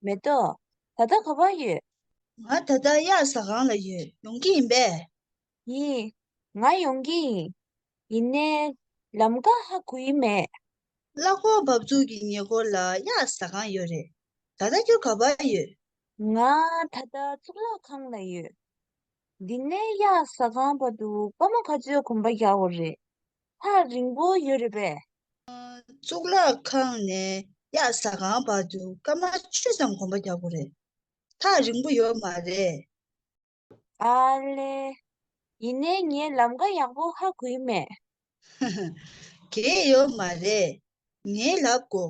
མེ་ཏོག། ད་ལྟ་ག་བར་ཡོད། ང་ད་ལྟ་གཡག་ཟ་སྒང་ལ་ཡོད། ཡོང་གི་ཡིན་པས། ཡིན། ང་ཡོང་གི་ཡིན། ཡིན་ནའི། ལམ་དགའ་ཧ་གོ་ཡི་མེད། གླ་འཁོར་འབབ་ཚུགས་ཀྱི་ཉེ་འཁོར་ལ་གཡག་ཟ་སྒང་ཡོད་རེད། ད་ལྟ་ཁྱོད་ག་བར་ཡོད། ང་ད་ལྟ་གཙུག་ལག་ཁང་ལ་ཡོད། འདི་ནས་གཡག་ཟ་ཁང་བར་དུ་དཔའ་མོ་ག་ཚོད་གོམ་པ་བརྒྱག་བ་རེད། ཐག་རིང་པོ་ཡོད་རེད་པས། གཙུག་ལག་ཁང་ནས་གཡག་ཟ་ཁང་བར་དུ་སྐར་མ་བཅུ་ཙམ་གོམ་པ་བརྒྱག་དགོས་རེད། ཐག་རིང་པོ་ཡོད་མ་རེད། ཨ་ལེ། ཡིན་ནའི་ངའི་ལམ་ཀ་ཡག་པོ་ཧ་གོའི་མེད། ཧ་ཧ། གེ་ཡོད་མ་རེད། ངའི་ལག་གོ།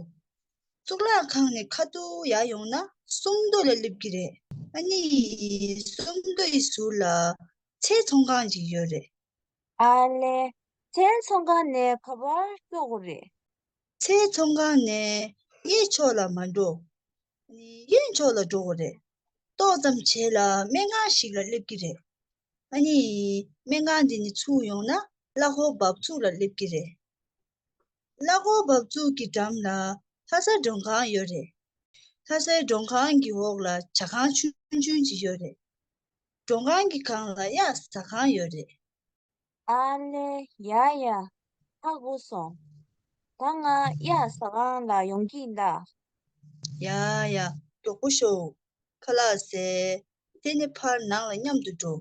གཙུག་ལག་ཁང་ནས་ཁ་ཏུ་ཡ་ཡོང་ན་སུམ་མདོ་ལ་སླེབས་ཀྱི་རེད། ཨ་ནི། སུམ་མདོ་ཡི་ཟུར་ལ་ཚལ་ཚོང་ཁང་ཞིག་ཡོད་རེད། ཨ་ལེ། ཚལ་ཚོང་ཁང་ནས་ག་བར་སྐྱོ་གོ་རེད། ཚེའི་ཚོང་ཁང་ནས་གཡས་ཕྱོགས་ལ་མ་འགྲོ། གཡོན་ཕྱོགས་ལ་འགྲོ་བ་རེད། ཏོག་ཙམ་བྱས་ལ་སྨན་ཁང་ཞིག་ལ་སླེབས་ཀྱི་རེད། ཨ་ནི། སྨན་ཁང་འདི་ནི་ཚུགས་ཡོང་ན་གླ་ཧོར་འབབ་ཚུགས་ལ་སླེབས་ཀྱི་རེད། གླ་ཧོར་འབབ་ཚུགས་ཀྱི་འགྲམ་ལ་ལྷ་སའི་མགྲོན་ཁང་ཡོད་རེད། ལྷ་སའི་མགྲོན་ཁང་གི་འོག་ལ་བྱ་ཁང་ཆུང་ཆུང་ཅིག་ཡོད་རེད། མགྲོན་ཁང་གི་གང་ལ་གཡག་ཟ་ཁང་ཡོད་རེད། ཨ་ལེ་ཡ་ཡ་ཁག་པོ་སོང། ད་ང་གཡག་ཟ་ཁང་ལ་ཡོང་གི་གདའ། ཡ་ཡ་མགྱོགས་པོ་ཤོག། ཁ་ལག་ཟས། དེ་ནི་ཕར་ནང་ལ་མཉམ་དུ་འགྲོ།